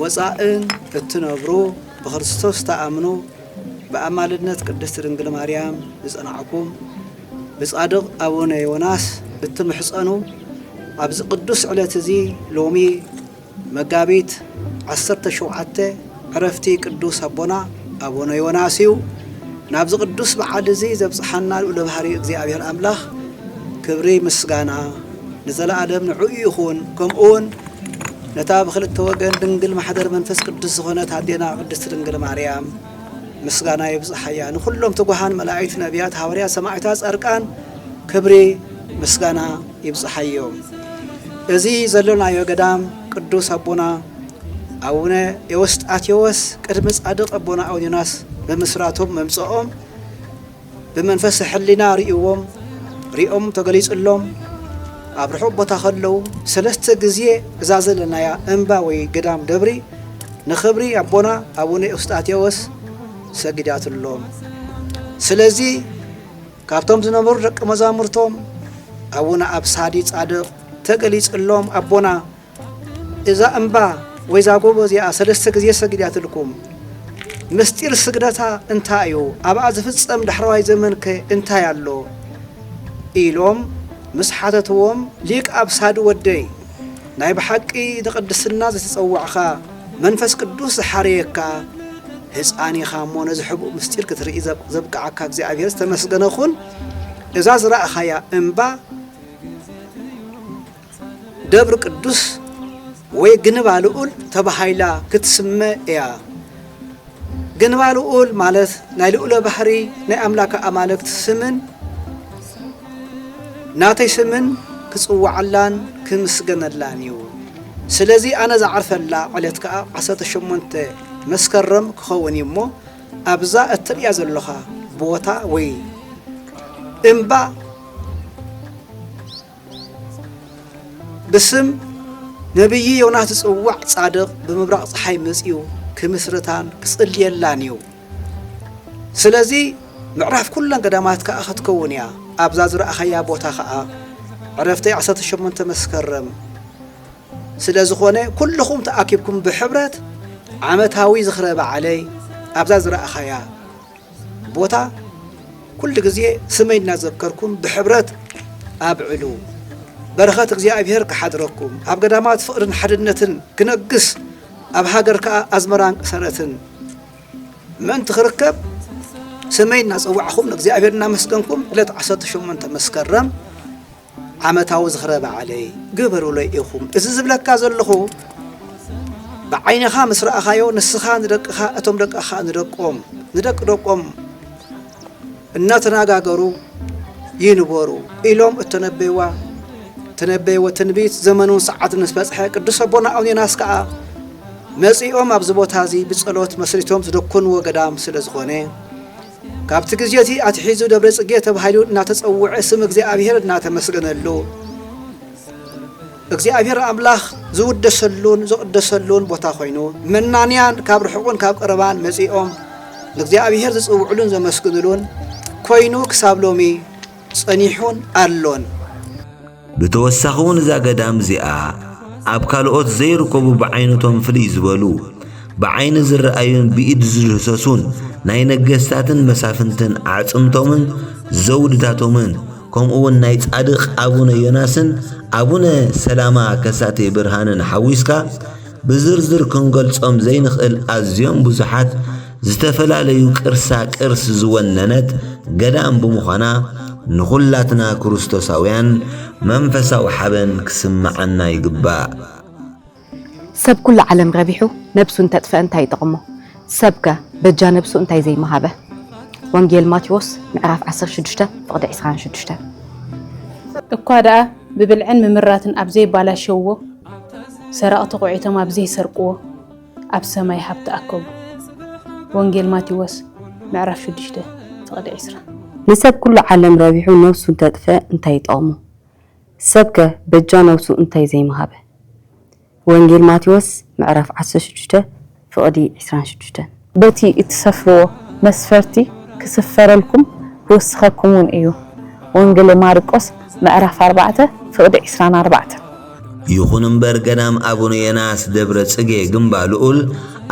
ወጻእን እትነብሩ ብክርስቶስ ትኣምኑ ብኣማልድነት ቅድስት ድንግል ማርያም ዝጸናዕኩም ብጻድቕ ኣቡነ ዮናስ እትምሕጸኑ ኣብዚ ቅዱስ ዕለት እዚ ሎሚ መጋቢት ዓሰርተ ሸውዓተ ዕረፍቲ ቅዱስ ኣቦና ኣቡነ ዮናስ እዩ። ናብዚ ቅዱስ በዓል እዚ ዘብጽሓና ልዑለ ባህሪ እግዚኣብሔር ኣምላኽ ክብሪ ምስጋና ንዘለኣለም ንዕኡ ይኹን ከምኡውን ነታ ብክልተ ወገን ድንግል ማሕደር መንፈስ ቅዱስ ዝኾነት ኣዴና ቅድስት ድንግል ማርያም ምስጋና ይብጽሓያ። ንኹሎም ትጉሃን መላእክት፣ ነቢያት፣ ሃዋርያት፣ ሰማዕታት፣ ጻድቃን ክብሪ ምስጋና ይብጽሓዮም። እዚ ዘለናዮ ገዳም ቅዱስ ኣቦና ኣቡነ ኤዎስጣቴዎስ ቅድሚ ጻድቕ ኣቦና ኣውኒናስ ምምስራቶም ምምጽኦም ብመንፈሰ ሕሊና ርእይዎም፣ ርእዮም ተገሊጽሎም፣ ኣብ ርሑቕ ቦታ ከለዉ ሰለስተ ግዜ እዛ ዘለናያ እምባ ወይ ገዳም ደብሪ ንኽብሪ ኣቦና ኣቡነ ኤውስጣቴዎስ ሰጊዳትሎም። ስለዚ ካብቶም ዝነበሩ ደቂ መዛሙርቶም ኣቡነ ኣብሳዲ ጻድቕ ተገሊጽሎም ኣቦና እዛ እምባ ወይ እዛ ጎቦ እዚኣ ሰለስተ ግዜ ሰጊዳትልኩም። ምስጢር ስግደታ እንታይ እዩ? ኣብኣ ዝፍጸም ዳሕረዋይ ዘመንከ እንታይ ኣሎ? ኢሎም ምስ ሓተትዎም ሊቅ ኣብሳዲ ወደይ ናይ ብሓቂ ንቅድስና ዝተጸዋዕካ መንፈስ ቅዱስ ዝሓረየካ ህፃን ኢኻ እሞ ነዚ ሕቡእ ምስጢር ክትርኢ ዘብቅዓካ እግዚኣብሔር ዝተመስገነ ኹን እዛ ዝረእኻያ እምባ ደብር ቅዱስ ወይ ግንባ ልኡል ተባሂላ ክትስመ እያ። ግንባ ልኡል ማለት ናይ ልኡለ ባህሪ ናይ ኣምላከ ኣማልክት ስምን ናተይ ስምን ክጽዋዓላን ክምስገነላን እዩ። ስለዚ ኣነ ዝዓርፈላ ዕለት ከዓ 18 መስከረም ክኸውን እዩ እሞ ኣብዛ እትርእያ ዘለኻ ቦታ ወይ እምባ ብስም ነቢዪ ዮናስ ዝጽዋዕ ጻድቕ ብምብራቕ ፀሓይ መጺኡ ክምስርታን ክጽልየላን እዩ ስለዚ ምዕራፍ ኩለን ገዳማት ከዓ ክትከውን እያ ኣብዛ ዝረእኸያ ቦታ ከዓ ዕረፍቲ 18 መስከረም ስለ ዝኾነ ኩልኹም ተኣኪብኩም ብሕብረት ዓመታዊ ዝኽረ በዓለይ ኣብዛ ዝረእኻያ ቦታ ኩሉ ግዜ ስመይ እናዘከርኩም ብሕብረት ኣብዕሉ። በረኸት እግዚኣብሔር ክሓድረኩም ኣብ ገዳማት ፍቕርን ሓድነትን ክነግስ ኣብ ሃገር ከዓ ኣዝመራን ቅሰረትን ምእንቲ ክርከብ ስመይ እናፀዋዕኹም ንእግዚኣብሔር እናመስገንኩም ዕለት 18 መስከረም ዓመታዊ ዝኽረ በዓለይ ግበሩለይ ኢኹም። እዚ ዝብለካ ዘለኹ ብዓይንኻ ምስ ረኣኻዮ ንስኻ ንደቅኻ እቶም ደቅኻ ንደቆም ንደቂ ደቆም እናተነጋገሩ ይንበሩ ኢሎም እተነበይዋ ተነበይዎ ትንቢት ዘመኑን ሰዓትን ምስ በጽሐ ቅዱስ ኣቦና ኣቡነ ዮናስ ከዓ መጺኦም ኣብዚ ቦታ እዚ ብጸሎት መስሪቶም ዝደኮንዎ ገዳም ስለ ዝኾነ ካብቲ ግዜ እዚ ኣትሒዙ ደብረ ጽጌ ተባሂሉ እናተጸውዐ ስም እግዚኣብሔር እናተመስገነሉ እግዚኣብሔር ኣምላኽ ዝውደሰሉን ዝቕደሰሉን ቦታ ኮይኑ መናንያን ካብ ርሑቕን ካብ ቀረባን መጺኦም ንእግዚኣብሔር ዝጽውዕሉን ዘመስግንሉን ኮይኑ ክሳብ ሎሚ ጸኒሑን ኣሎን። ብተወሳኺ እውን እዛ ገዳም እዚኣ ኣብ ካልኦት ዘይርከቡ ብዓይነቶም ፍልይ ዝበሉ ብዓይኒ ዝረኣዩን ብኢድ ዝድህሰሱን ናይ ነገስታትን መሳፍንትን ኣዕጽምቶምን ዘውድታቶምን ከምኡ እውን ናይ ጻድቕ ኣቡነ ዮናስን ኣቡነ ሰላማ ከሳቴ ብርሃንን ሓዊስካ ብዝርዝር ክንገልጾም ዘይንኽእል ኣዝዮም ብዙሓት ዝተፈላለዩ ቅርሳ ቅርስ ዝወነነት ገዳም ብምዃና ንዅላትና ክርስቶሳውያን መንፈሳዊ ሓበን ክስምዓና ይግባእ። ሰብ ኩሉ ዓለም ረቢሑ ነብሱ እንተጥፍአ እንታይ ይጠቕሞ? ሰብ ከ በጃ ነብሱ እንታይ ዘይምሃበ? ወንጌል ማቴዎስ ምዕራፍ ዓሰርተ ሽዱሽተ ፍቕዲ ዕስራን ሽዱሽተን። እኳ ደኣ ብብልዕን ምምራትን ኣብ ዘይባላሸውዎ፣ ሰረቕቲ ኵዒቶም ኣብ ዘይሰርቅዎ፣ ኣብ ሰማይ ሃብ ተኣከቡ። ወንጌል ማቴዎስ ምዕራፍ ሽዱሽተ ፍቕዲ ዕስራ። ንሰብ ኩሉ ዓለም ረቢሑ ነብሱ እንተጥፍአ እንታይ ይጠቕሞ? ሰብ ከ በጃ ነብሱ እንታይ ዘይምሃበ? ወንጌል ማቴዎስ ምዕራፍ ዓሰርተ ሽዱሽተ ፍቕዲ ዕስራን ሽዱሽተን። በቲ እትሰፍርዎ መስፈርቲ ክስፈረልኩም ክውስኸኩምውን እዩ። ወንጌል ማርቆስ ምዕራፍ ኣርባዕተ ፍቕዲ ዕስራን ኣርባዕተን። ይኹን እምበር ገዳም ኣቡነ የናስ ደብረ ጽጌ ግንባ ልኡል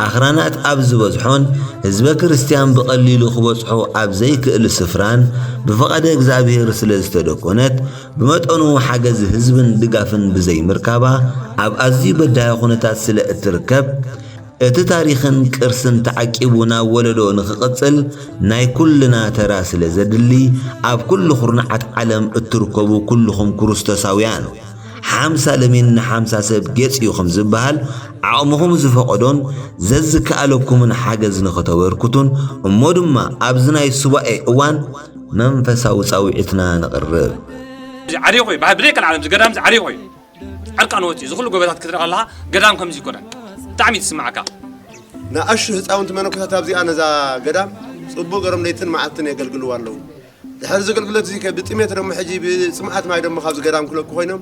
ኣኽራናት ኣብ ዝበዝሖን ህዝበ ክርስቲያን ብቐሊሉ ክበጽሖ ኣብ ዘይክእል ስፍራን ብፍቓደ እግዚኣብሔር ስለ ዝተደኮነት ብመጠኑ ሓገዝ ህዝብን ድጋፍን ብዘይምርካባ ኣብ ኣዝዩ በዳሂ ኩነታት ስለ እትርከብ እቲ ታሪኽን ቅርስን ተዓቂቡ ናብ ወለዶ ንኽቕጽል ናይ ኩልና ተራ ስለ ዘድሊ ኣብ ኩሉ ኩርናዓት ዓለም እትርከቡ ኩልኹም ክርስቶሳውያን ሓምሳ ለሚን ንሓምሳ ሰብ ጌጽ እዩ ከም ዝበሃል፣ ዓቕምኹም ዝፈቐዶን ዘዝከኣለኩምን ሓገዝ ንኽተበርክቱን እሞ ድማ ኣብዚ ናይ ሱባኤ እዋን መንፈሳዊ ጻውዒትና ነቕርብ። እዚ ዓርዩ ኮይ በሃ ብደይ ቀልዓለም እዚ ገዳም እዚ ዓርዩ ኮይ ዕርቃኑ ወጺኡ እዚ ኩሉ ጎበታት ክትርኢ ከለካ ገዳም ከምዚ ይኮነ ብጣዕሚ እዩ ዝስምዓካ። ንኣሽቱ ህጻውንቲ መነኮሳት ኣብዚኣ ነዛ ገዳም ጽቡቕ ገሮም ለይትን መዓልትን የገልግልዋ ኣለዉ። ድሕሪ እዚ ኣገልግሎት እዚ ከ ብጥሜት ደሞ ሕጂ ብጽምኣት ማይ ደሞ ካብዚ ገዳም ክለቁ ኮይኖም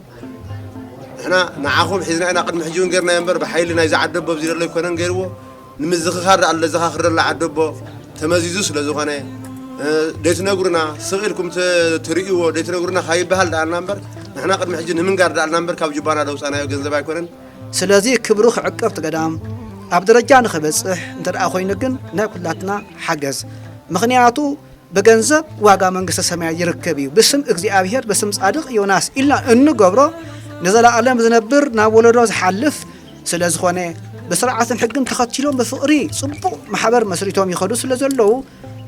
ንሕና ንዓኹም ሒዝና ኢና ቅድሚ ሕጂ እውን ጌርናዮ እምበር ብሓይሊ ናይዚ ዓደቦ ኣብዚ ዘሎ ኣይኮነን ገይርዎ ንምዝኽኻር ደኣ ለዘኻኽር ዘሎ ዓደቦ ተመዚዙ ስለ ዝኾነ ደይትነግሩና ስቕ ኢልኩም ትርእይዎ ደይትነግሩና ካይበሃል ደኣልና እምበር ንሕና ቅድሚ ሕጂ ንምንጋር ደኣልና እምበር ካብ ጅባና ደውፃናዮ ገንዘብ ኣይኮነን ስለዚ ክብሩ ክዕቀብ ትገዳም ኣብ ደረጃ ንክበፅሕ እንተ ኮይኑ ግን ናይ ኩላትና ሓገዝ ምክንያቱ ብገንዘብ ዋጋ መንግስተ ሰማያት ይርከብ እዩ ብስም እግዚኣብሔር ብስም ጻድቅ ዮናስ ኢልና እንገብሮ ንዘለኣለም ዝነብር ናብ ወለዶ ዝሓልፍ ስለ ዝኾነ ብስርዓትን ሕግን ተኸቲሎም ብፍቕሪ ጽቡቕ ማሕበር መስሪቶም ይኸዱ ስለ ዘለዉ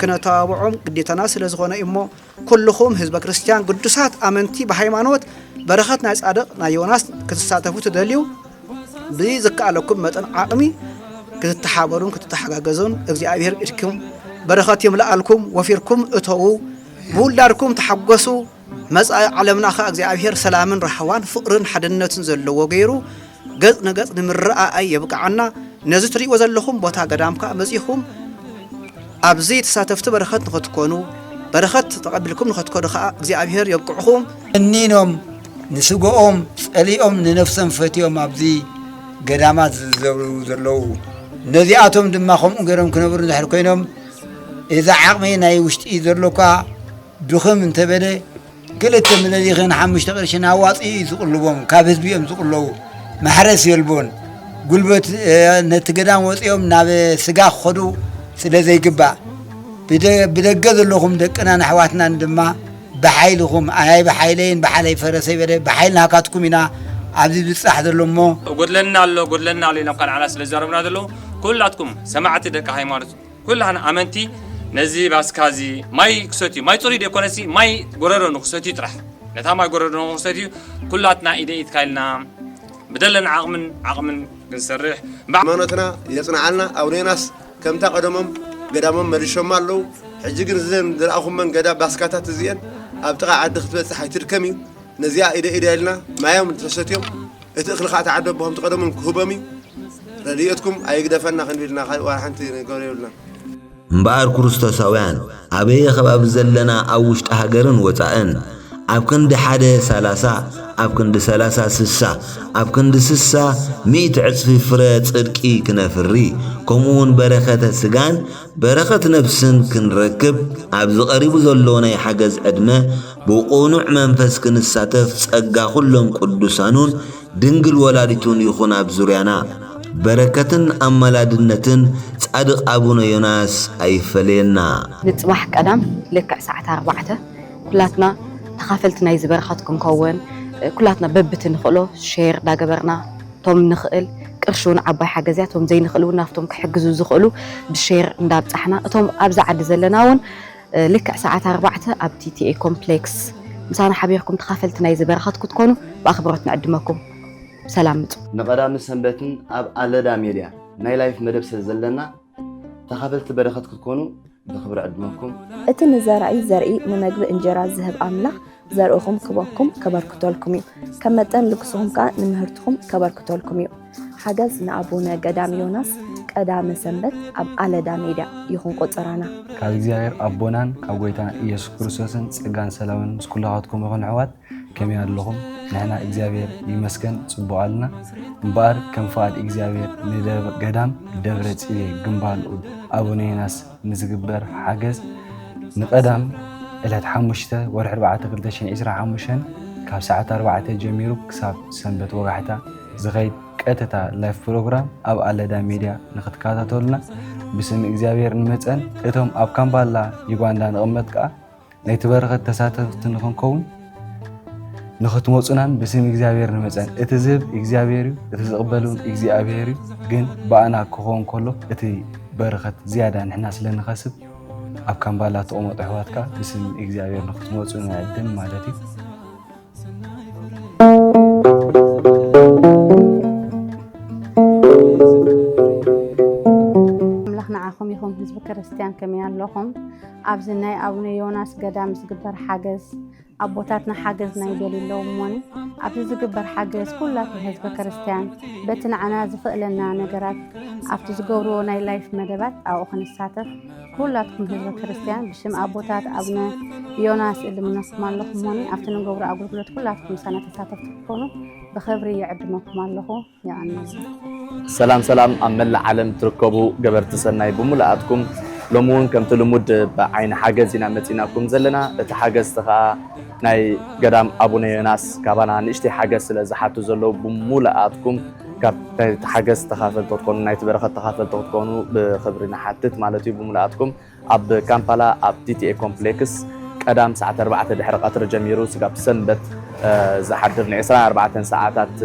ክነተባብዖም ግዴታና ስለ ዝኾነ እሞ ኩልኹም ህዝበ ክርስቲያን ግዱሳት ኣመንቲ ብሃይማኖት በረኸት ናይ ጻድቕ ናይ ዮናስ ክትሳተፉ ትደልዩ ብዝከኣለኩም መጠን ዓቕሚ ክትተሓበሩን ክትተሓጋገዙን እግዚኣብሔር ኢድኩም በረኸት ይምልኣልኩም፣ ወፊርኩም እተዉ፣ ብውላድኩም ተሓጎሱ። መጻኢ ዓለምና ኸ እግዚኣብሔር ሰላምን ራህዋን ፍቕርን ሓድነትን ዘለዎ ገይሩ ገጽ ንገጽ ንምረኣኣይ የብቅዓና። ነዚ ትርእይዎ ዘለኹም ቦታ ገዳም ከዓ መጺኹም ኣብዚ ተሳተፍቲ በረኸት ንኸትኮኑ በረኸት ተቐቢልኩም ንኸትኮኑ ከዓ እግዚኣብሔር የብቅዕኹም። እኒኖም ንስግኦም ጸሊኦም ንነፍሶም ፈትዮም ኣብዚ ገዳማት ዝዘብሩ ዘለዉ ነዚኣቶም ድማ ከምኡ ገይሮም ክነብሩ እንድሕር ኮይኖም እዚ ዓቕሚ ናይ ውሽጢ ዘሎካ ድኽም እንተበለ ክልተ ምለሊኽን ሓሙሽተ ቅርሽን ኣዋፂኡ እዩ ዝቕልቦም ካብ ህዝቢ እዮም ዝቕለቡ ማሕረስ የልቦን ጉልበት ነቲ ገዳም ወፂኦም ናብ ስጋ ክኸዱ ስለ ዘይግባእ ብደገ ዘለኹም ደቅናን ኣሕዋትናን ድማ ብሓይልኹም ኣይ ብሓይለይን ብሓለይ ፈረሰይ በለ ብሓይል ናካትኩም ኢና ኣብዚ ዝብጻሕ ዘሎ እሞ። ጎድለና ኣሎ ጎድለና ኣሎ ኢሎም ካንዓና ስለ ዝዛረቡና ዘለዉ ኩላትኩም ሰማዕቲ ደቂ ሃይማኖት ኩላህና ኣመንቲ ነዚ ባስካ እዚ ማይ ክሰትዩ ማይ ጽሩይ ደይኮነሲ ማይ ጎረሮ ንክሰትዩ ጥራሕ ነታ ማይ ጎረሮ ንክሰትዩ ኩላትና ኢደ ኢድካ ኢልና ብደለና ዓቕምን ዓቕምን ክንሰርሕ ሃይማኖትና የጽንዓልና ኣውነ ዮናስ ከምታ ቀደሞም ገዳሞም መሊሾማ ኣለዉ ሕጂ ግን እዘን ዝረኣኹመን ገዳ ባስካታት እዚኤን ኣብ ጥቃ ዓዲ ክትበጽሕ ኣይትድከም እዩ ነዚኣ ኢደ ኢደ ኢልና ማዮም ተሰትዮም እቲ እኽሊ ካኣ ተዓደቦ ከምቲ ቀደሞም ክህቦም እዩ ረዲኤትኩም ኣይግደፈና ክንዲ ኢልና ካልእ ዋላ ሓንቲ ንገብሮ የብልናን እምበኣር ኩሩስቶሳውያን ኣበየ ከባቢ ዘለና ኣብ ውሽጢ ሃገርን ወጻእን ኣብ ክንዲ ሓደ ሰላሳ ኣብ ክንዲ ሰላሳ ስሳ ኣብ ክንዲ ስሳ ሚእቲ ዕጽፊ ፍረ ጽድቂ ክነፍሪ ከምኡውን በረኸተ ስጋን በረኸት ነፍስን ክንረክብ ኣብዚ ቀሪቡ ዘሎ ናይ ሓገዝ ዕድመ ብቑኑዕ መንፈስ ክንሳተፍ ጸጋ ኩሎም ቅዱሳኑን ድንግል ወላዲቱን ይኹን ኣብ ዙርያና በረከትን ኣማላድነትን ጻድቅ ኣቡነ ዮናስ ኣይፈለየና። ንጽባሕ ቀዳም ልክዕ ሰዓት ኣርባዕተ ኩላትና ተኻፈልቲ ናይዚ በረኸት ክንከውን ኩላትና በብቲ ንኽእሎ ሼር ዳገበርና ቶም ንኽእል ቅርሺ ውን ዓባይ ሓገዝ እያ ቶም ዘይንኽእል ውን ናብቶም ክሕግዙ ዝኽእሉ ብሼር እንዳብጻሕና እቶም ኣብዛ ዓዲ ዘለና ውን ልክዕ ሰዓት ኣርባዕተ ኣብ ቲቲኤ ኮምፕሌክስ ምሳና ሓቢርኩም ተኻፈልቲ ናይዚ በረኸት ክትኮኑ ብኣኽብሮት ንዕድመኩም። ብሰላም ምጹ። ንቀዳምን ሰንበትን ኣብ ኣለዳ ሜድያ ናይ ላይፍ መደብ ስለ ዘለና ተኻፈልቲ በረኸት ክትኮኑ ብኽብሪ ዕድመኩም። እቲ ንዘራኢ ዘርኢ ንመግቢ እንጀራ ዝህብ ኣምላኽ ዘርእኹም ክበኩም ከበርክተልኩም እዩ። ከም መጠን ልግስኹም ከኣ ንምህርትኹም ከበርክተልኩም እዩ። ሓገዝ ንኣቡነ ገዳም ዮናስ ቀዳመ ሰንበት ኣብ ኣለዳ ሜድያ ይኹን ቆጸራና። ካብ እግዚኣብሔር ኣቦናን ካብ ጎይታና ኢየሱስ ክርስቶስን ጸጋን ሰላምን ምስ ኩላኻትኩም ይኹን ኣሕዋት ከመይ ኣለኹም ንሕና እግዚኣብሔር ይመስገን ጽቡቅ ኣልና እምበኣር ከም ፍቃድ እግዚኣብሔር ንደብ ገዳም ደብረ ጽቤ ግምባልኡ ኣቡነ ዮናስ ንዝግበር ሓገዝ ንቀዳም ዕለት ሓሙሽተ ወርሒ ኣርባዕተ ክልተ ሽሕን ዒስራን ሓሙሽተን ካብ ሰዓት ኣርባዕተ ጀሚሩ ክሳብ ሰንበት ወጋሕታ ዝኸይድ ቀጥታ ላይፍ ፕሮግራም ኣብ ኣለዳ ሚድያ ንክትከታተሉና ብስም እግዚኣብሔር ንመፀን እቶም ኣብ ካምባላ ዩጋንዳ ንቕመጥ ከዓ ናይቲ በረኸት ተሳተፍቲ ንኽንከውን ንኽትመፁናን ብስም እግዚኣብሔር ንመፀን እቲ ዝህብ እግዚኣብሔር እዩ እቲ ዝቕበል እውን እግዚኣብሔር እዩ ግን ብኣና ክኸውን ከሎ እቲ በረኸት ዝያዳ ንሕና ስለ ንኸስብ ኣብ ካምባላ ተቐመጡ ኣሕዋትካ ብስም እግዚኣብሔር ንኽትመፁ ንዕድም ማለት እዩ ኣምላኽ ንዓኹም ይኹን ህዝቢ ክርስትያን ከመይ ኣለኹም? ኣብዚ ናይ ኣቡነ ዮናስ ገዳም ዝግበር ሓገዝ ኣቦታትና ሓገዝ ናይ ደል ኣለዉ እሞኒ ኣብዚ ዝግበር ሓገዝ ኩላትን ህዝቢ ክርስትያን በቲ ንዓና ዝኽእለና ነገራት ኣብቲ ዝገብርዎ ናይ ላይፍ መደባት ኣብኡ ክንሳተፍ ኩላትኩም ህዝበ ክርስትያን ብሽም ኣቦታት ኣብነ ዮናስ እልምነኩም ኣለኹ ሞኒ ኣብቲ ንገብሮ ኣገልግሎት ኩላትኩም ሳና ተሳተፍቲ ክኾኑ ብኽብሪ ይዕድመኩም ኣለኹ ይቐንል ሰላም ሰላም ኣብ መላእ ዓለም ትርከቡ ገበርቲ ሰናይ ብምሉኣትኩም ሎሚ እውን ከምቲ ልሙድ ብዓይኒ ሓገዝ ኢና መፂናኩም ዘለና እቲ ሓገዝቲ ከዓ ናይ ገዳም ኣቡነ ዮናስ ካባና ንእሽተይ ሓገዝ ስለ ዝሓቱ ዘለዉ ብምሉኣትኩም ካብ ናይቲ ሓገዝ ተኻፈልቲ ክትኮኑ ናይቲ በረኸት ተኻፈልቲ ክትኮኑ ብክብሪ ንሓትት ማለት እዩ ብምልኣትኩም ኣብ ካምፓላ ኣብ ቲቲኤ ኮምፕሌክስ ቀዳም ሰዓት ኣርባዕተ ድሕሪ ቀትሪ ጀሚሩ ስጋብ ሰንበት ዝሓድር ን24 ሰዓታት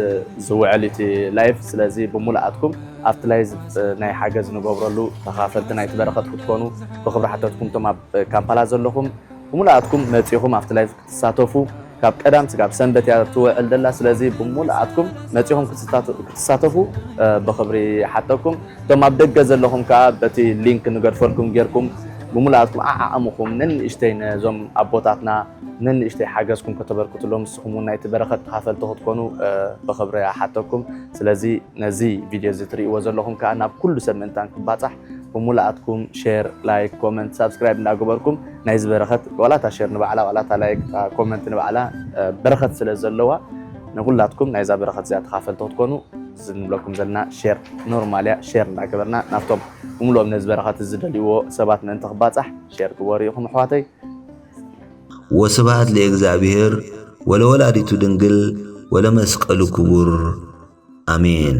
ዝውዕል እቲ ላይፍ ስለዚ ብሙሉኣትኩም ኣብቲ ላይ ናይ ሓገዝ ንገብረሉ ተኻፈልቲ ናይቲ በረኸት ክትኮኑ ብክብሪ ሓተትኩም እቶም ኣብ ካምፓላ ዘለኹም ብሙሉኣትኩም መፂኹም ኣብቲ ላይፍ ትሳተፉ ካብ ቀዳም ስጋብ ሰንበት እያ ትወዕል ደላ ስለዚ ብሙሉኣትኩም መጺኹም ክትሳተፉ ብኽብሪ ይሓተኩም እቶም ኣብ ደገ ዘለኹም ከኣ በቲ ሊንክ ንገድፈልኩም ጌርኩም ብሙሉኣትኩም ዓዓቅምኹም ነንእሽተይ ነዞም ኣቦታትና ነንእሽተይ ሓገዝኩም ከተበርክትሎም ንስኹም ውን ናይቲ በረኸት ተኻፈልቲ ክትኮኑ ብኽብሪ እሓተኩም ስለዚ ነዚ ቪድዮ እዚ ትርእይዎ ዘለኹም ከኣ ናብ ኩሉ ሰብ ምእንታን ክባጻሕ ብሙሉኣትኩም ሼር ላይክ ኮመንት ሳብስክራይብ እንዳገበርኩም ናይዚ በረኸት ዋላ እታ ሼር ንባዕላ ዋላ እታ ላይክ እታ ኮመንት ንባዕላ በረኸት ስለ ዘለዋ ንኩላትኩም ናይዛ በረኸት እዚኣ ተኻፈልቲ ክትኮኑ እዚ ንብለኩም ዘለና ሼር ኖርማል እያ ሼር እንዳገበርና ናብቶም ብምሉኦም ነዚ በረኸት ዝደልይዎ ሰባት ምእንቲ ክባፃሕ ሼር ግበሩ ኢኹም ኣሕዋተይ ወስብሃት ለእግዚኣብሔር ወለወላዲቱ ድንግል ወለመስቀሉ ክቡር ኣሜን